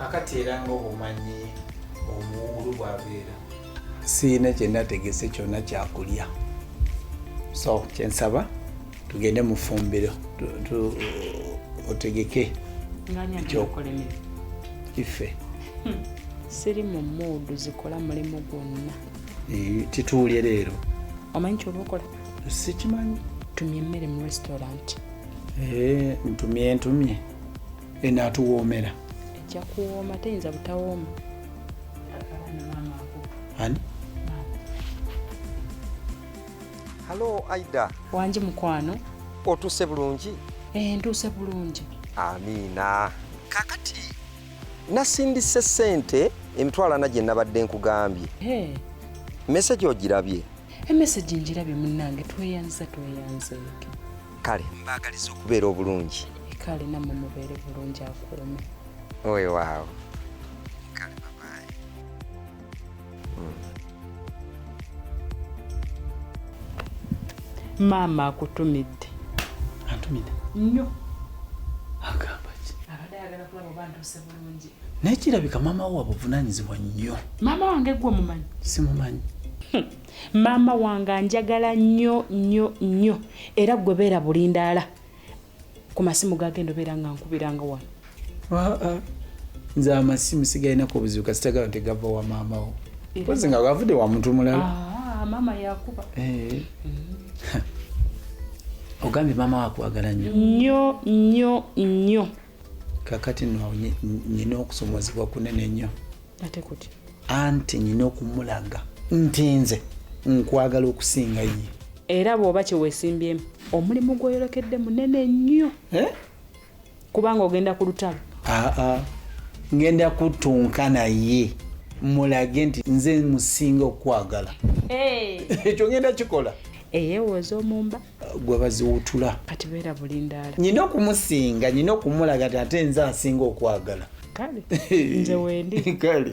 kakati era nga obumanyi omuwuulu bwabeera siina kyenategese kyona kyakulya so kyensaba tugende mufumbiro otegeke ife hmm. siri mu muudu zikola mulimu gwonna tituulye leero omanyi kyoba okola sikimanyi tumye emmere mu restaurant eh, ntumye ntumye enaatuwoomera ejja kuwooma teyinza butawooma ani halo aida wangi mukwano otuuse bulungi ee eh, ntuuse bulungi amiina kakati nasindise sente emitwalo ana gye nabadde nkugambye eh. mesegi ogirabye emesegi eh, ngirabye munnange tweyanza tweyanzeeke kale mbaagaliza okubeera obulungi kale namwe mubeere bulungi akuume oyo waawo kale babaye hmm. maama akutumidde antumidde nnyo agamba ki abadde ayagala kulaba oba ntuuse bulungi naye kirabika maama wo wabuvunanyizibwa nnyo maama wange gwe omumanyi simumanyi hmm. Maama wange anjagala nnyo nnyo nnyo era ggwe beera bulindaala ku masimu gagenda obeera nga nkubiranga wano nze amasimu sigalinako obuzibu kasitagala nti gava wa maamawo pozi nga gavude wa muntu mulala ah, maama yakuba eh. ogambye maama wakwagala nnyo nnyo nnyo nnyo kakati no nyina okusomozebwa kunene nnyo anti nyina okumulaga nti nze nkwagala okusinga ye era bw'oba kyewesimbyemu omulimu gwoyolekedde munene nnyo eh? kubanga ogenda ku lutalo aa ngenda kutunka naye mulage nti nze musinga okukwagala ekyo ngenda kikola eyewooza omumba gwe baziwutula kati beera bulindaala nyina okumusinga nyina okumulaga ti ate nze asinga okwagala kale nze wendi kale